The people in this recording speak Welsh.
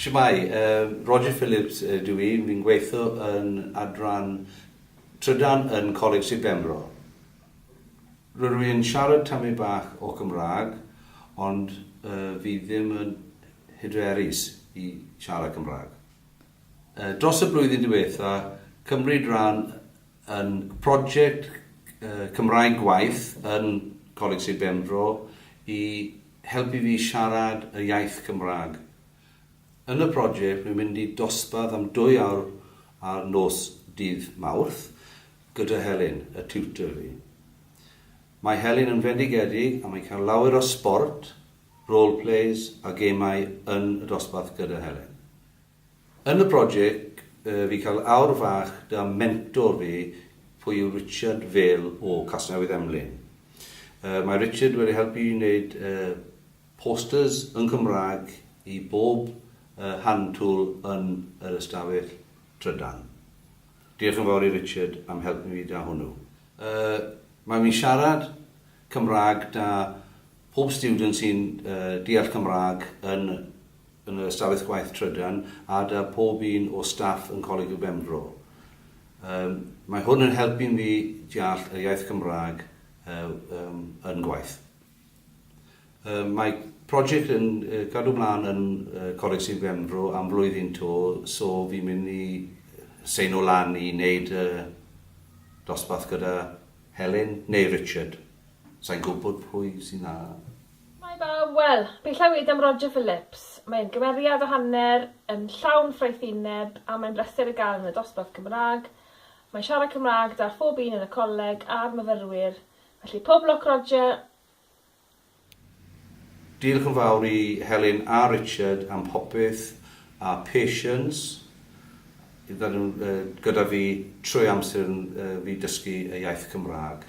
Shwmae, yy, Roger Phillips ydw i, fi'n gweitho yn adran trydan yn Coleg Sir Benfro. Rydw i yn siarad tamyn bach o Cymraeg, ond yy, fi ddim yn hyderus i siarad Cymraeg. Yy, dros y blwyddyn diwetha, cymryd ran Yn project Cymraeg Gwaith yn Coleg Sir Benfro i helpu fi siarad y iaith Cymraeg. Yn y project rwy'n mynd i dosbarth am dwy awr ar nos dydd Mawrth gyda Helen, y tutor fi. Mae Helen yn fendigedig a mae'n cael lawer o sbort, role plays a gemau yn y dosbarth gyda Helen. Yn y project fi cael awr fach da mentor fi pwy yw Richard Vale o Casnewydd Emlyn. Mae Richard wedi helpu i wneud posters yn Cymraeg i bob hand tool yn yr ystafell trydan. Diolch yn fawr i Richard am helpu fi da hwnnw. Mae fi'n siarad Cymraeg da pob student sy'n deall Cymraeg yn yn yr ystafell gwaith trydan a 'da pob un o staff yn Coleg y Benfro. Yym, mae hwn yn helpu mi deall yr iaith Gymraeg yym yn gwaith. Yym, mae project yn cadw mlaen yn Coleg Sir Benfro am flwyddyn 'to, so fi'n mynd i seino lan i wneud y dosbarth gyda Helen neu Richard. Sai'n gwybod pwy sy'n a-. Hei bawb, wel, fi'n clywed am Roger Phillips. Mae'n gymeriad o hanner, yn llawn ffraethineb, a mae'n bleser ei gael yn y dosbarth Cymraeg. Mae'n siarad Cymraeg da phob un yn y coleg a'r myfyrwyr, felly pob lwc Roger! Diolch yn fawr i Helen a Richard am popeth, a Patience, fel gyda fi trwy amser fi dysgu y iaith Cymraeg.